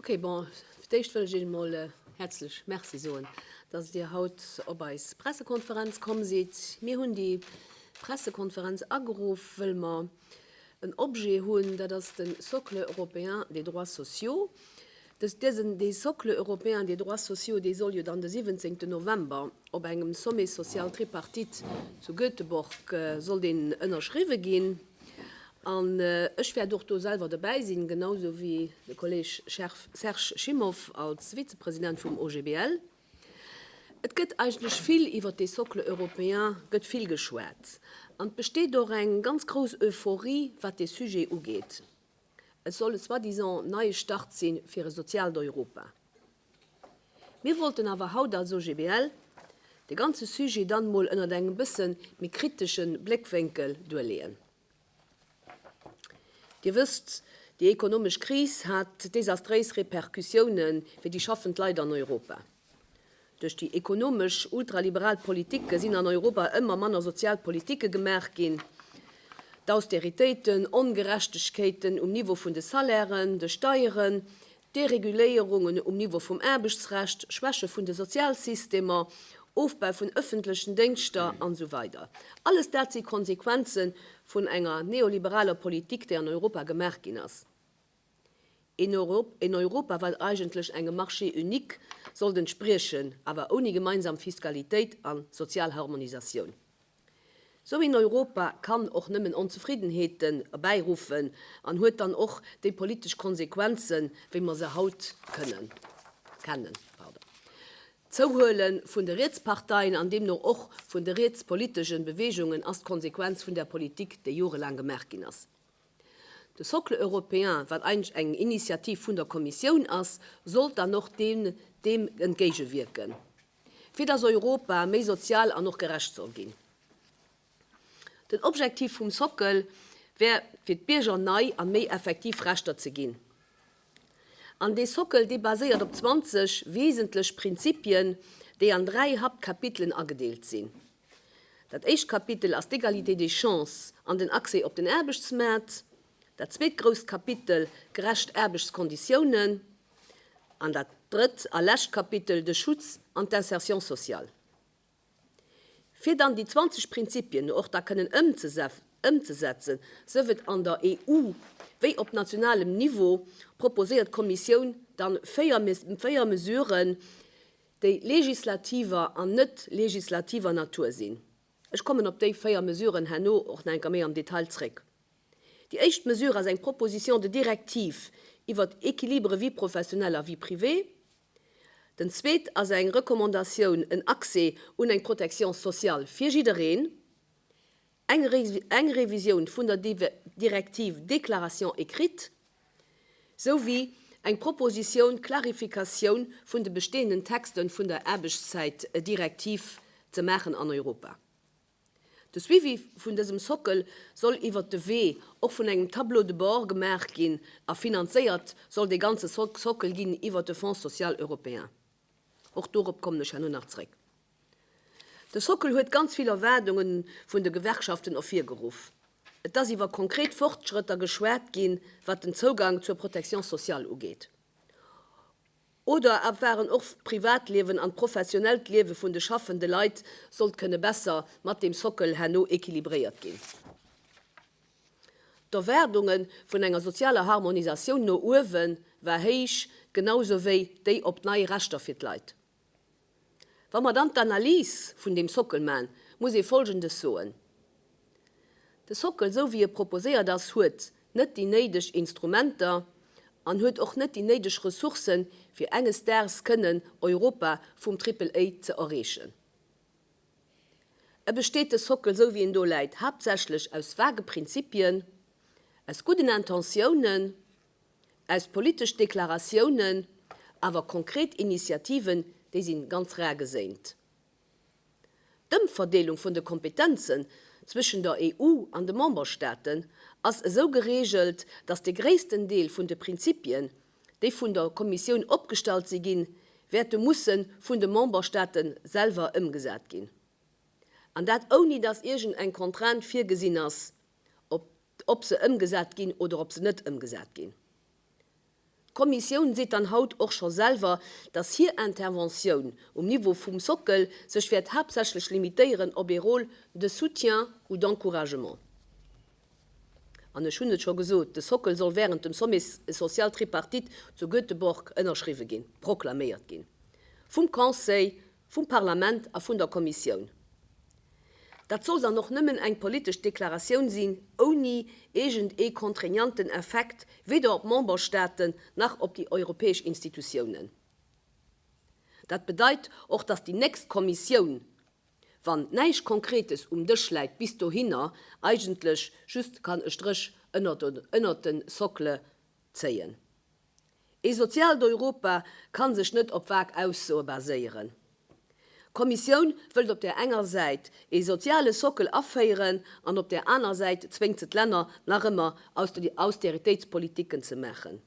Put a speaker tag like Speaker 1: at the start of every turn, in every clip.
Speaker 1: Ok, bon, fir d'éischt wëll ech Iech emol häerzlech Merci soen, dass Dir haut op eis Pressekonferenz komm sidd. Mir hunn déi Pressekonferenz ageruff, wëll mer en Objet hunn, dat ass de Socle européen des droits sociaux. Dee Socle européen des droits sociaux, dee soll jo dann de 17 November op engem Sommet social tripartite zu Göteborg soll deen ënnerschriwwe ginn. An ech wäert och do selwer dobäi sinn, genau esou wéi de Kolleeg Serge Schimow als Vizepresident vum OGBL. Et gëtt eigentlech vill iwwert dee Socle européen gëtt vill geschwat an et besteet och eng ganz grouss Euphorie, wat dee Sujet ugeet. Et soll e soi-disant neie Start si fir e soziaalt Europa. Mir wollten awer haut als OGBL de ganze Sujet dann emol ënnert engem bësse méi kritesche Bléckwénkel duerleeën. Dir wësst, déi ekonomesch Kris hat desastréis Repercussioune fir déi schaffend Leit an Europa. Duerch déi ekonomesch ultraliberal Politike sinn an Europa ëmmer manner sozial Politike gemaach ginn. D'Austeritéiten, Ongerechtegkeeten um Niveau vun de Salairen, de Steieren, Dereguléierungen um Niveau vum Aarbechtsrecht, Schwäche vun de Sozialsystemer, Ofbau vun ëffentlechen Déngschter an esou weider Alles dat si Konsequenze vun enger neoliberaler Politik, déi an Europa gemaach ginn ass. Een Europa, wat eigentlech engem Marché unique sollt entspriechen, awer ouni gemeinsam Fiskalitéit a sozial Harmonisatioun. Sou een Europa kann och nëmmen Onzefriddenheeten erbäiruffen an huet dann och déi politesch Konsequenzen, wéi mer se haut kënnen, kennen. D'Zouhuele vun de Rietsparteien an deemno och vun de rietspolitegen Beweegungen ass d'Konsequenz vun där Politik, déi jorelaang gemaach ginn ass. De Socle européen, wat eigentlech eng Initiativ vun der Kommissioun ass, sollt dann och deem entgéigewierken. Fir dass Europa méi sozial an och gerecht soll ginn. Den Objektiv vum Sockel wär fir d'Bierger nei an méi effektiv Rechter ze ginn. An dee Sockel dee baséiert op 20 wesentlech Prinzipien, déi an dräi Haptkapitelen agedeelt sinn. Dat éischt Kapitel ass d'Egalité des chances an den Accès op den Aarbechtsmaart. Dat zweet grousst Kapitel, gerecht Aarbechtskonditiounen. An dat drëtt a lescht Kapitel, de Schutz an d'Insertion sociale. Fir dann déi 20 Prinzipien och da kënnen ëmzesetzen, sëf et an der EU wéi op nationalem Niveau, proposéiert d'Kommissioun dann véier Mesuren, déi legislativer an net legislativer Natur sinn. Ech kommen op déi véier Mesuren herno och nach eng Kéier méi am Detail zréck. Déi éischt Mesure ass eng Proposition de directive iwwert Équilibre vie professionnelle à vie privée. Den zweet ass eng Recommandatioun, en Accès un eng Protection sociale fir jiddereen, eng Revisioun vun der Directive déclaration écrite. souwéi eng Proposition d'clarificatioun vun de bestehenden Texte vun der Aarbechtszäitdirektiv ze maachen an Europa. De Suivi vun dësem Sockel soll iwwert de Wee och vun engem Tableau de bord gemaach ginn a finanzéiert soll dee ganze Sockel ginn iwwert de Fonds social européen. Och dorop kommen ech herno nach zréck. De Sockel huet ganz vill Erwaardunge vun de Gewerkschaften ervirgeruff. Et ass iwwer konkret Fortschrëtter geschwat ginn, wat den Zougang zur Protection sociale ugeet. Oder et waren och d'Privatliewen an d'professionellt Liewe vun de schaffende Leit sollt kënne besser mat deem Sockel herno equilibréiert ginn. D'Erwaardunge vun enger sozialer Harmonisatioun no uewe war héich, genau sou wéi déi op nei Rechter fir d'Leit. Wa mer dann d'Analys vun deem Sockel man, muss ee Folgendes soen, De Sockel, sou wéi e proposéiert ass, huet net déi néideg Instrumenter an huet och net déi néideg Ressourcen, fir enges Daags kënnen Europa vum Triple-A ze erreechen. E besteet, de Sockel, esou wéi en do läit, haaptsächlech aus vage Prinzipien, aus gudden Intentiounen, aus politesch Deklaratiounen, awer konkret Initiativen, déi si ganz rar geséint. D'Ëmverdeelung vun de Kompetenzen zwëschen der EU an de Memberstaaten ass esou geregelt, datt de gréissten Deel vun de Prinzipien, déi vun der Kommissioun opgestallt si ginn, wäerte musse vun de Memberstaate selwer ëmgesat ginn, an dat ouni datt iergend eng Contrainte virgesinn ass, ob ob se ëmgesat ginn oder ob se net ëmgesat ginn. D'Kommissioun seet dann haut och scho selwer, datt hir Interventioun um Niveau vum Sockel sech wäert haaptsächlech limitéieren op ee Rôle de soutien ou d'encouragement. An ech hunn et scho gesot, de Sockel soll wärend dem Sommet social tripartite zu Göteborg ënnerschriwwe ginn, proklaméiert ginn, vum Conseil, vum Parlament a vun der Kommissioun. Dat soll dann och nëmmen eng politesch Deklaratioun sinn, ouni iergend ee contraignanten Effekt weder op d'Memberstaaten nach op déi europäesch Institutiounen. Dat bedeit och, dass déi nächst Kommissioun, Wann näischt Konkretes um Dësch läit bis dohinner, eigentlech just kann e Stréch ënnert den Socle zéien. Ee soziaalt Europa kann sech net op vag Aussoe baséieren. D'Kommissioun wëllt op där enger Säit ee soziale Sockel aféieren an op där aner Säit zwéngt se d'Länner nach ëmmer Austeritéitspolitiken ze maachen.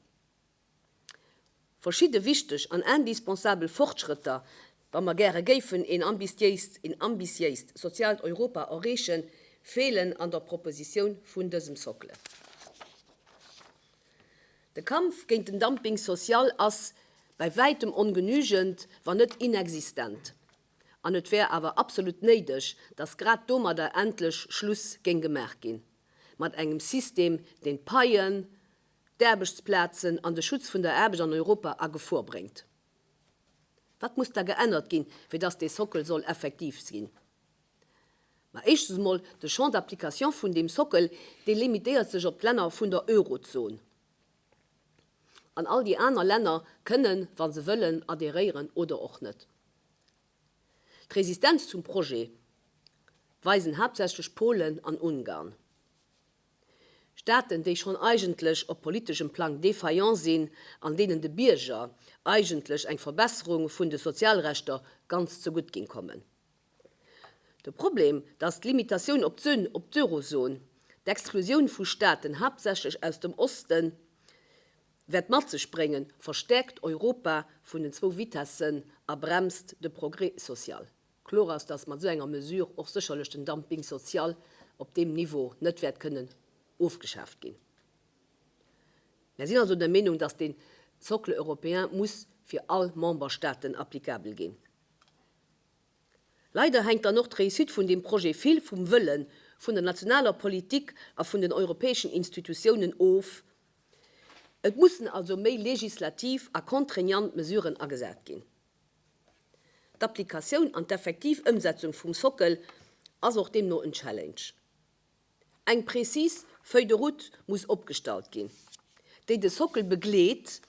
Speaker 1: Verschidde wichteg an indispensabel Fortschrëtter, wa mer gäre géifen een ambitiéist, een ambitiéist soziaalt Europa erreechen, feelen an der Propositioun vun dësem Socle. De Kampf géint den Dumping social ass bäi wäitem ongenügend, wann net inexistent, an et wär awer absolut néideg, datt grad domadder endlech Schluss géing gemaach ginn, mat engem System, deen d'Paien d'Aarbechtsplazen an de Schutz vun der Aarbecht an Europa a Gefor bréngt. Wat muss da geännert ginn, fir datt dee Sockel soll effektiv sinn? Ma éischtens emol, de Champ d'application vun deem Sockel, dee limitéiert sech op d'Länner vun der Eurozon. An all déi aner Länner kënnen, wa se wëllen, adheréieren oder och net. D'Resistenz zum Projet weisen haaptsächlech Polen an Ungarn. Staaten, déi schonn eigentlech op politeschem Plang défaillant sinn, an deenen de Bierger eigentlech eng Verbesserung vun de Sozialrechter ganz zegutt géing kommen. De Problem, dass d'Limitatioun op d'Suen, op d'Eurozone, d'Exklusioun vu Staaten, haaptsächlech aus dem Osten, wäert mat sech bréngen, verstäerkt Europa vun den zwou Vitessen a bremst de Progrès social. Kloer ass, dass mat esou enger Mesure och sécherlech den Dumping social op deem Niveau net wäert kënnen ofgeschaaft ginn. Mär sinn also der Meenung, dass deen Socle européen muss fir all Memberstaaten applicabel ginn. Leider hänkt dann och d'Réussite vun deem Projet vill vum Wëlle vun der nationaler Politik a vun den europäeschen Institutiounen of. Et mussen also méi legislativ a contraignant Mesuren agesat ginn. D'Applikatioun an d'effektiv Ëmsetzung vum Sockel ass och deemno en Challenge. Eng prezis Feuille de route muss opgestallt ginn, déi de Sockel begleet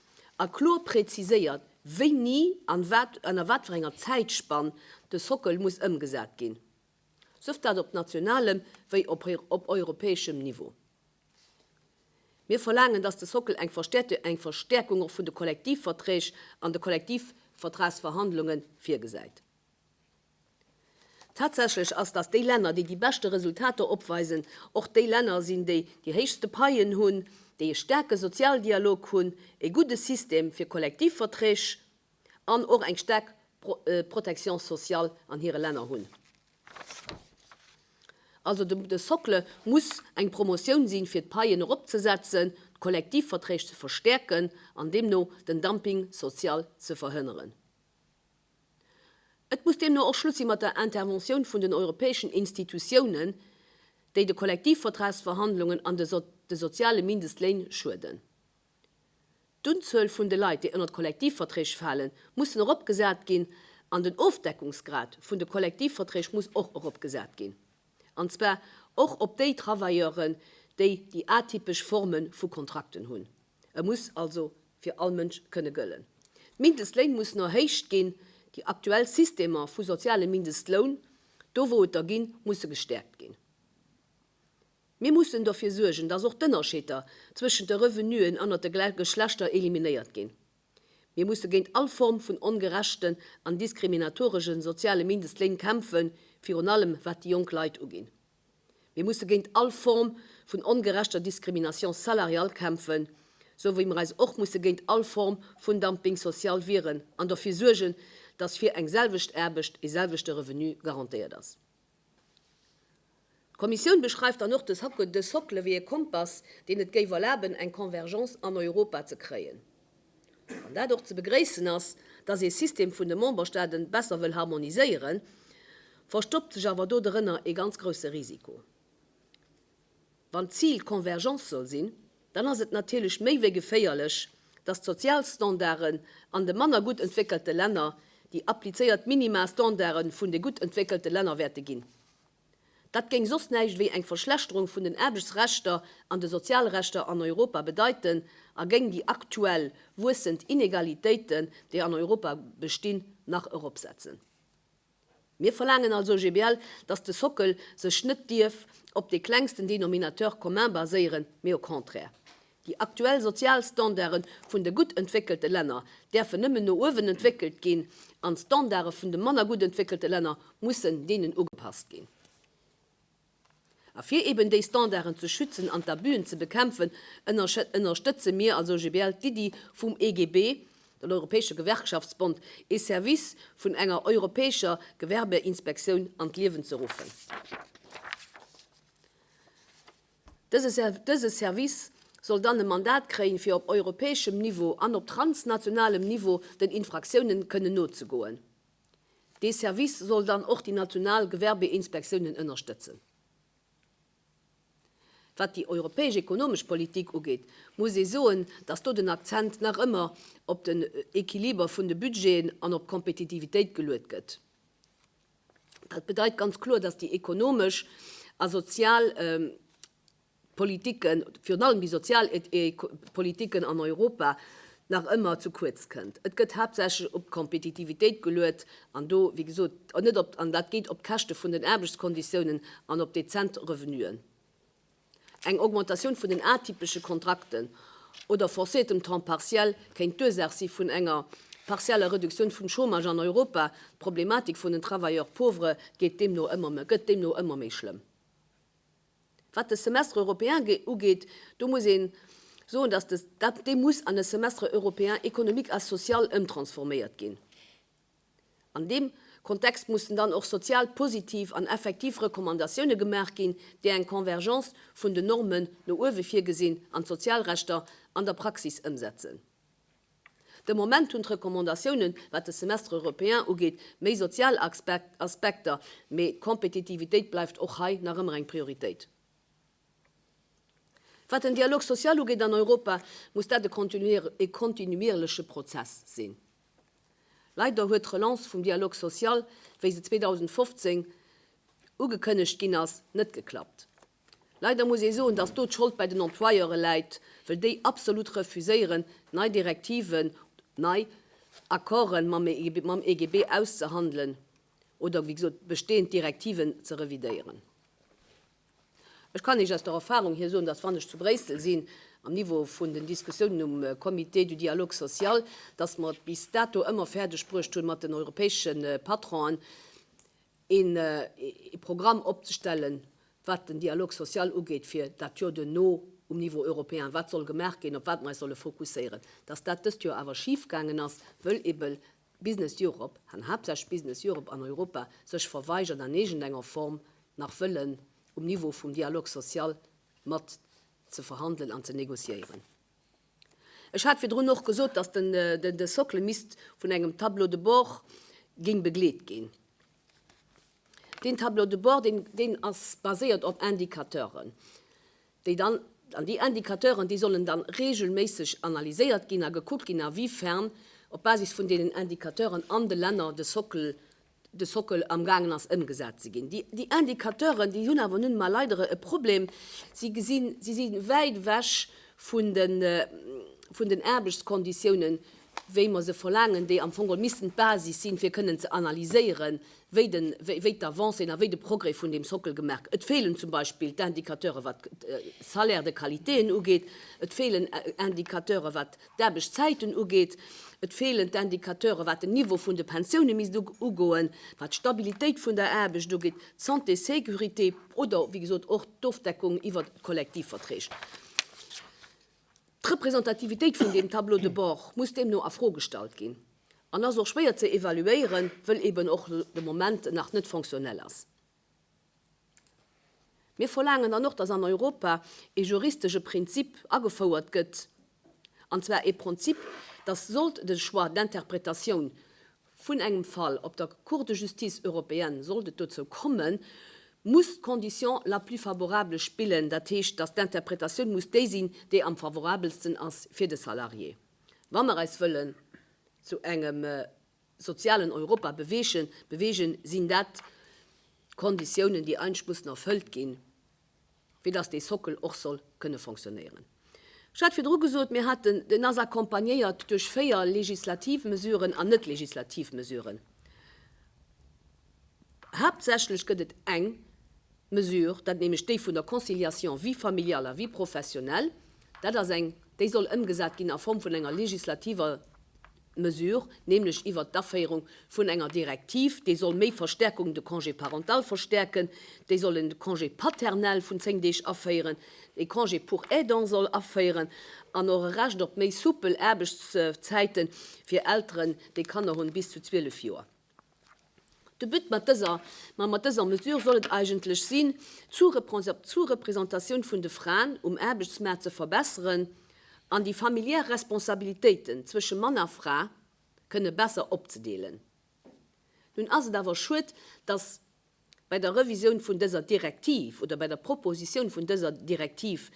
Speaker 1: a kloer preziséiert, wéini an ënner wat fir enger Zäitspann de Sockel muss ëmgesat ginn, sëft dat op nationalem wéi op europäeschem Niveau. Mir verlaangen, dass de Sockel eng verstäerte eng Verstärkung och vun de Kollektivverträg an de Kollektivvertragsverhandlungen virgesäit. Tatsächlech ass, dass déi Länner, déi déi beschte Resultater opweisen, och déi Länner sinn, déi déi héichste Paien hunn, déi e staarke Sozialdialog hunn, e gudde System fir Kollektivverträg an och eng staark Pro Protection sociale an hire Länner hunn. Also de Socle muss eng Promotioun sinn, fir d'Paien eropzesetzen, d'Kollektivverträg ze verstäerken an deemno den Dumping social ze verhënneren. Et muss deemno och Schluss si mat der Interventioun vun den europäeschen Institutiounen, déi de Kollektivvertragsverhandlungen an de soziale Mindestléin schueden. D'Unzuel vun de Leit, déi ënnert Kollektivverträg falen, mussen eropgesat ginn an den Ofdeckungsgrad vun de Kollektivverträg muss och eropgesat ginn, an zwar och op déi Travailleuren, déi déi atypesch Forme vu Kontrakten hunn. E muss also fir all Mënsch kënne gëllen. D'Mindestléin mussen erhéicht ginn. Déi aktuell Systemer vu sozialem Mindestloun, do wou et der ginn, musse gestäerkt ginn. Mir mussen dofir suergen, dass och d'Ënnerscheter zwëschent de Revenuen ënnert de Geschlechter eliminéiert ginn. Mir musse géint all Form vun ongerechten an diskriminatoreschen soziale Mindestléin kämpfen, virun allem wat déi jonk Leit uginn. Mir musse géint all Form vun ongerechter Discrimination salariale kämpfen, sou wéi mer eis och musse géint all Form vun Dumping social wieren an dofir suergen, dass fir eng selwecht Aarbecht ee selwechte Revenu garantéiert ass. D'Kommissioun beschreift dann och de Socle wéi e Kompass, deen et géif erlaben, eng Convergence an Europa ze kréien. Wann dat och ze begréissen ass, dass ee System vun de Memberstaaten besser wëll harmoniséieren, verstoppt sech awer do drënner ee ganz grousse Risiko. Wann d'Zil d'Convergence soll sinn, dann ass et natierlech méi wéi geféierlech, datt d'Sozialstandarden an de manner gutt entwéckelte Länner déi applizéiert Minimastandarde vun de gutt entwéckelte Länner wäerte ginn. Dat géing soss näischt wéi eng Verschlechterung vun den Aarbechtsrechter an de Sozialrechter an Europa bedeiten a géing déi aktuell wuessend Inegalitéiten, déi an Europa bestinn, nach eropsetzen. Mir verlaangen als OGBL, dass de Sockel sech net dierf op dee klengsten Dénominateur commun baséieren, mee au contraire. Déi aktuell sozial Standarde vun de gutt entwéckelte Länner däerfen nëmmen no uewen entwéckelt ginn an d'Standarde vun de manner gutt entwéckelte Länner mussen deenen ugepasst ginn. A fir eben déi Standarden ze schützen an d'Abuen ze bekämpfen, ënnerstëtze mir als OGBL d'Iddi vum EGB, den Europäesche Gewerkschaftsbond, ee Service vun enger europäescher Gewerbeinspektioun an d'Liewen ze ruffen. Dëse Service soll dann e Mandat kréien, fir op europäeschem Niveau an op transnationalem Niveau den Infraktiounen kënnen nozegoen. Dee Service soll dann och déi national Gewerbeinspektiounen ënnerstëtzen. Wat déi europäesch ekonomesch Politik ugeet, muss ee soen, datt do den Akzent nach ëmmer op den Equiliber vun de Budgeten an op d'Kompetitivitéit geluet gëtt. Dat bedeit ganz kloer, datt déi ekonomesch a sozial Politiken, virun allem déi sozial Politiken an Europa, nach ëmmer zu kuerz kënnt. Et gëtt haaptsächlech op d'Kompetitivitéit geluet an do, wéi gesot, net op, an dat geet op d'Käschte vun den Aarbechtskonditiounen an op dezent Revenuen. Eng Augmentatioun vun den atypesche Kontrakten oder forcéiertem Temps partiel kéint d'Ursaach si vun enger partieller Reduktioun vum Chômage an Europa. D'Problematik vun den Travailleurs pauvres gëtt deemno ëmmer méi schlëmm. Wat de Semestre européen ugeet, do muss ee soen, dass dat, dee muss an e Semestre européen économique a social ëmtransforméiert ginn. An deem Kontext mussen dann och sozial positiv an effektiv Recommandatioune gemaach ginn, déi eng Convergence vun den Normen no uewe virgesinn an d'Sozialrechter an der Praxis ëmsetzen. De Moment hunn d'Recommandatiounen, wat de Semestre européen ugeet, méi sozial Aspekter, mee d'Kompetitivitéit bleift och hei nach ëmmer eng Prioritéit. Wat den Dialogue social ugeet an Europa, muss dat e kontinuierleche Prozess sinn. Leider huet d'Relance vum Dialogue social, wéi se 2015 ugekënnegt ginn ass, net geklappt. Leider muss ee soen, dass do d'Schold bei den Employeure läit, wëll déi absolut refuséieren, nei Direktiven, nei Accorden mam EGB auszehandelen oder, wéi gesot, bestehend Direktiven ze revidéieren. Ech kann Iech aus der Erfahrung hier soen, dass, wann ech zu Bréissel sinn, am Niveau vun den Diskussiounen um Comité du dialogue social, dass mer et bis dato ëmmer fäerdeg bruecht hunn, mat den europäesche Patronen een Programm opzestellen, wat den Dialogue social ugeet fir dat Joer duerno um Niveau européen, wat soll gemaach ginn, op wat mer eis solle fokusséieren, dass dat dëst Joer awer schif gaangen ass, wëll ebe Business Europe, an haaptsächlech Business Europe an Europa, sech verweigert an iergendenger Form nach wëllen um Niveau vum Dialogue social mat ze verhandelen an ze négociéieren. Ech hat virdrun och gesot, dass de Socle misst vun engem Tableau de bord géing begleet ginn. Deen Tableau de bord, deen ass baséiert op Indicateuren, déi dann, an déi Indicateuren, déi sollen dann regelméisseg analyséiert ginn a gekuckt ginn, a wéi fern op Basis vun deenen Indicateuren an de Länner de Socle de Sockel amgaangen ass ëmgesat ze ginn. Déi Indicateuren, déi hunn awer nun emol leider e Problem, si gesinn, si si wäit ewech vun den, vun den Aarbechtskonditiounen, wéi mer se verlaangen, déi am Fong geholl missten d'Basis sinn, fir kënnen ze analyséieren, wéi den, wéi d'Avancéen a wéi de Progrès vun deem Sockel gemaach. Et feelen zum Beispill d'Indicateure wat d'Salaires de qualitéen ugeet, et feelen Indicateure wat. d'Aarbechtszäiten ugeet, et feelen d'Indicateure wat den Niveau vun de Pensioune misst ugoen, wat d'Stabilitéit vun der Aarbecht ugeet, d'Santé, Sécurité oder wéi gesot och d'Ofdeckung iwwert Kollektivverträg. D'Representativitéit vun deem Tableau de bord muss deemno a Fro gestallt ginn an ass och schwéier ze evaluéieren, wëll eeben och de Moment nach net fonctionnel ass. Mir verlaangen dann och, dass an Europa e juristesche Prinzip agefouert gëtt, an zwar e Pronzip, dass, sollt de Choix d'interprétation vun engem Fall op der Cour de justice européenne, sollt et dozou kommen, muss d'Condition la plus favorable spillen, dat heescht, dass d'Interpretatioun muss déi sinn, déi am favorabelsten ass fir de Salarié, wa mer eis wëllen zu engem. sozialen Europa beweegen, beweegen, sinn dat Konditiounen, déi eigentlech mussen erfëllt ginn, fir dass dee Sockel och soll kënne fonctionnéieren. Ech hat virdru gesot, mir haten, deen ass accompagnéiert duerch véier legislativ Mesuren an net legislativ Mesuren. Haaptsächlech gëtt et eng Mesure, dat nämlech déi vun der Conciliation vie familiale à vie professionnelle. Dat ass eng, déi soll ëmgesat ginn a Form vun enger legislativer Mesure, nämlech iwwert d'Aféierung vun enger Direktiv, déi soll méi Verstärkung de Congé parental verstärken, déi soll en Congé paternel vun zéng Deeg aféieren, e Congé pour aidant soll aféieren an och e Recht op méi soupel Aarbechtszäiten fir Elteren, déi Kanner hunn, bis zu zwielef Joer. De But mat dëser, ma mat dëser Mesure soll et eigentlech sinn, d'Sous-Représentatioun vun de Fraen um Aarbechtsmaart ze verbesseren an déi familiär Responsabilitéiten zwësche Mann a Fra kënne besser opzedeelen. Nun ass et awer schued, dass. bei der Revisioun vun dëser Direktiv oder bei der Propositioun vun dëser Direktiv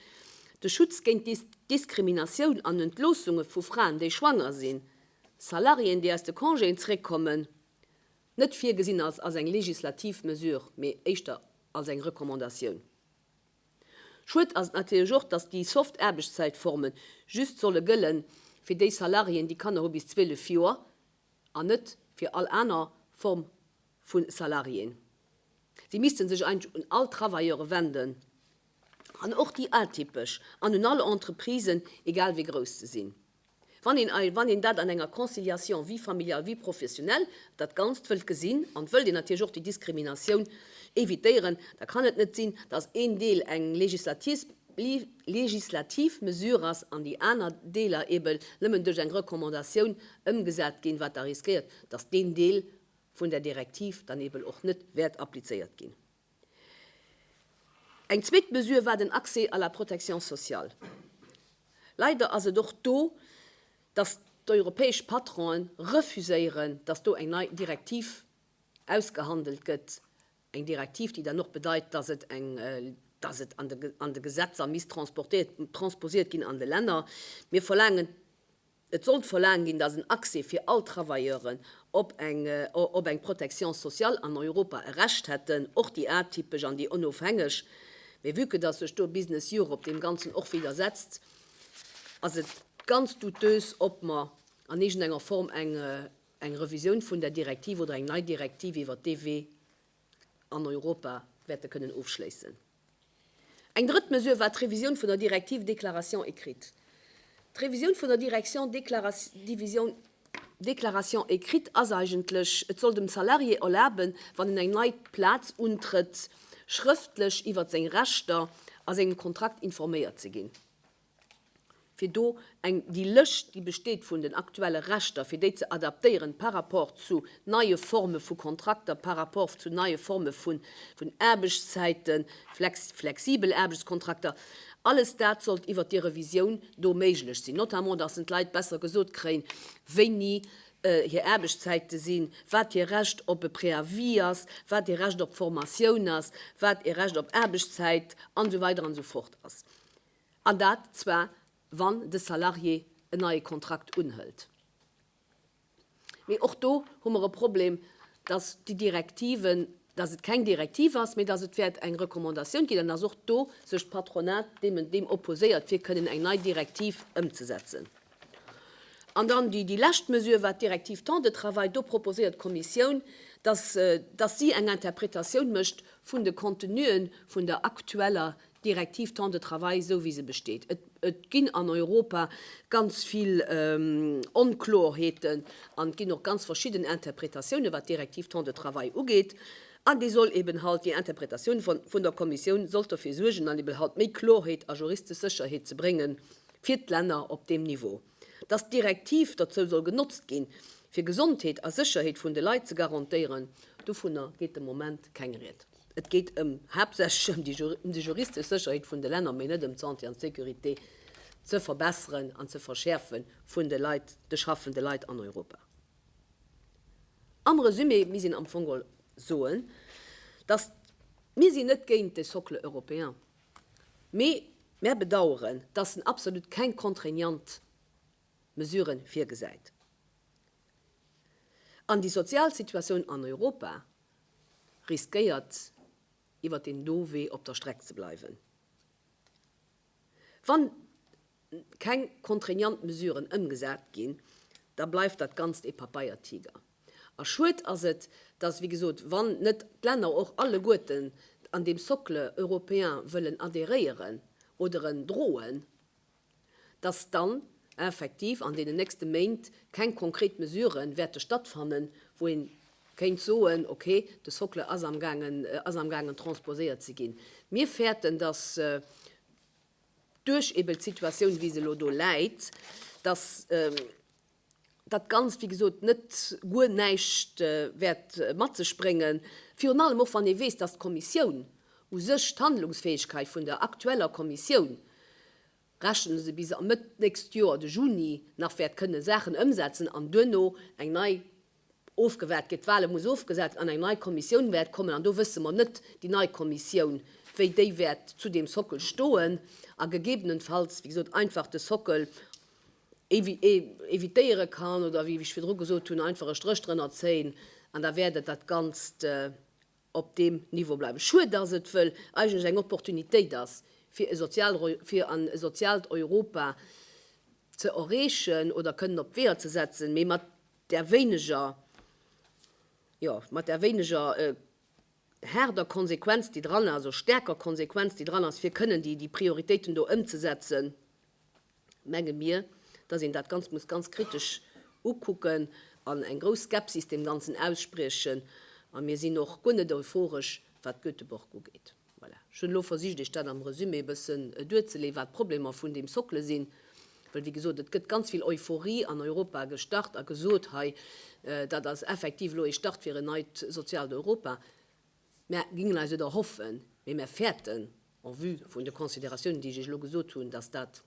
Speaker 1: de Schutz géint Diskriminatioun an Entloossunge vu Fraen, déi schwanger sinn, Salariéen, déi aus de Congéen zeréckkommen, net virgesinn als als eng legislativ Mesure, mee éischter als eng Recommandatioun. Schued ass et natierlech och, dass déi soft Aarbechtszäitformen just solle gëlle fir déi Salariéen, déi Kanner hu bis 12 Joer, an net fir all aner Form vu Salariéen. Si misste sech eigentlech un all d'Travailleure wenden an och déi atypesch an un all Entreprisen, egal wéi grouss se sinn, wann een, wann een dat an enger Conciliation vie familiale, vie professionnelle dat Ganzt wëllt gesinn. An wëllt een natierlech och déi Diskriminatioun evitéieren, da kann et net sinn, dass een Deel eng legislativ Mesure ass an déi aner Deeler eeben nëmmen duerch eng Recommandatioun ëmgesat ginn, wat da riskéiert, dass deen Deel vun der Direktiv dann eben och net wäert applizéiert ginn. Eng zweet Mesure war den Accès à la protection sociale. Leider ass et och do, dass d'europäesch Patronen refuséieren, dass do eng nei Direktiv ausgehandelt gëtt, eng Direktiv, déi dann och bedeit, dass et eng, dass et an de Gesetzer misst transposiert ginn an de Länner. Mir verlaangen Et sollt verlaangt ginn, datt en Accès fir all Travailleuren op eng Protection sociale an Europa e Recht hätten, och déi atypesch an déi onofhängeg. Mee vue que datt sech do Business Europe deem Ganzen och widdersetzt, ass et ganz douteus, ob mer an iergendenger Form eng Revisioun vun där Direktiv oder eng nei Direktiv iwwert d'EW an Europa wäerte kënnen ofschléissen. Eng drëtt Mesure war d'Revisioun vun der Direktiv déclaration écrite. D'Revisioun vun der Direktion Division déclaration écrite ass eigentlech, et soll dem Salarié erlaben, wann en eng nei Plaz untrëtt, schrëftlech iwwert seng Rechter a sengem Kontrakt informéiert ze ginn. fir do eng, déi Lëscht, déi besteet vun den aktuelle Rechter, fir déi ze adaptéieren par rapport zu neie Forme vu Kontrakter, par rapport zu neie Forme vun Aarbechtszäiten, flexibel Aarbechtskontrakter. Alles dat sollt iwwert déi Revisioun do méiglech sinn, notamment dass en d'Leit besser gesot kréien, wéini hir Aarbechtszäite sinn, wat hir Recht op e Préavis ass, wat hir Recht op Formatioun ass, wat e Recht op Aarbechtszäit an esou weider an esou fort ass. An dat zwar, wann de Salarié en neie Kontrakt unhëlt. Mee och do hu mer e Problem, dass déi Direktiven, dass et keng Direktiv ass, mee dass et wäert eng Recommandatioun ginn an dass och do sech d'Patronat deem opposéiert, fir kënnen eng nei Direktiv ëmzesetzen. An dann déi lescht Mesure, wat d'Direktiv Temps de travail, do proposéiert d'Kommissioun, dass si eng Interpretatioun mécht vun de Contenuen vun der aktueller Direktiv Temps de travail esou wéi se besteet. Et ginn an Europa ganz vill Onkloerheeten an et ginn och ganz verschidden Interpretatiounen, wat d'Direktiv Temps de travail ugeet. An déi soll eben halt, déi Interpretatioun vun der Kommissioun sollt derfir suergen an eben halt méi Klorheet a juristesch Sécherheet ze brénge fir d'Länner op deem Niveau, dass d'Direktiv dozou soll genotzt ginn, fir Gesondheet a Sécherheet vun de Leit ze garantéieren. Dovunner geet de Moment keng Ried. Et geet ëm haaptsächlech ëm déi juristesch Sécherheet vun de Länner, mee net ëm d'Santé an d'Sécurité ze verbesseren an ze verschäerfe vun de Leit, de schaffende Leit an Europa. Am Resumé misst een am Fong geholl soen, dass mir sinn net géint de Socle européen, mee mär bedauern, dass en absolut keng contraignant Mesuren virgesäit. An déi sozial Situatioun an Europa riskéiert iwwer deem do Wee op der Streck ze bleiwen, wann keng contraignant Mesuren ëmgesat ginn, da bleift dat Ganzt ee Papeiertiger. A schued ass et, dass, wéi gesot, wann net d'Länner och alleguerten an deem Socle européen wëllen adhéréieren oder en droen, dass dann effektiv an deenen nächste Méint keng konkret Mesurë wäerte stattfannen, wou ee kéint soen, okay, de Socle ass amgaangen transposéiert ze ginn. Mir fäerten, dass duerch eeben d'Situatioun, wéi se elo do läit, dass, dat Ganzt, wéi gesot, net guer näischt wäert mat sech bréngen, virun allem och, wann ee weess, dass d'Kommissioun u sech, d'Handlungsfäegkeit vun der aktueller Kommissioun, rechne se bis a Mëtt d'nächst Joer, de Juni, nach wäert kënne Saachen ëmsetzen an duerno eng nei ofgewaart gëtt, d'Wale muss ofgesat an eng nei Kommissioun wäert kommen. An do wësse mer net, déi nei Kommissioun, wéi déi wäert zu deem Sockel stoen a gegebenenfalls, wéi gesot, einfach de Sockel, évitéiere kann oder, wéi ech virdru gesot hunn, einfach e Stréch drënner zéien an da wäert et dat Ganzt op deem Niveau bleiwen. Schued, dass et wëll eigentlech eng Opportunitéit ass, fir e sozial fir an e soziaalt Europa ze erreechen oder kënnen op d'Weeër ze setzen, mee mat där wéineger, jo, mat där wéineger haarder Konsequenz, déi dran ass, oder stäerker Konsequenz, déi dran ass, fir kënnen déi Prioritéiten do ëmzesetzen. menge mir, dass een dat Ganzt muss ganz kritesch ukucken an eng grouss Skepsis deem Ganzen ausspriechen. A mir sinn och guer net euphoresch, wat Göteborg ugeet. Voilà. Ech hunn elo versicht, Iech dat am Resumé e bëssen duerzeleeën, wat d'Problemer vun deem Socle sinn. Well, wéi gesot, et gëtt ganz vill Euphorie an Europa gestart a gesot, hei, dat ass effektiv elo ee Start fir en neit soziaalt Europa. Mär gingen eis et erhoffen, mee mär fäerten, en vue vun de Consideratiounen, déi ech Iech elo gesot hunn, dass dat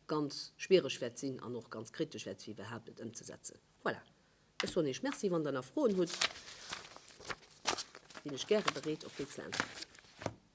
Speaker 1: ganz schwiereg wäert sinn an och ganz kritesch wäert si, iwwerhaupt et ëmzesetzen. Voilà, ech soen Iech Merci. Wann Der nach Froen hutt, sinn ech gäre bereet, op déi ze äntwerten.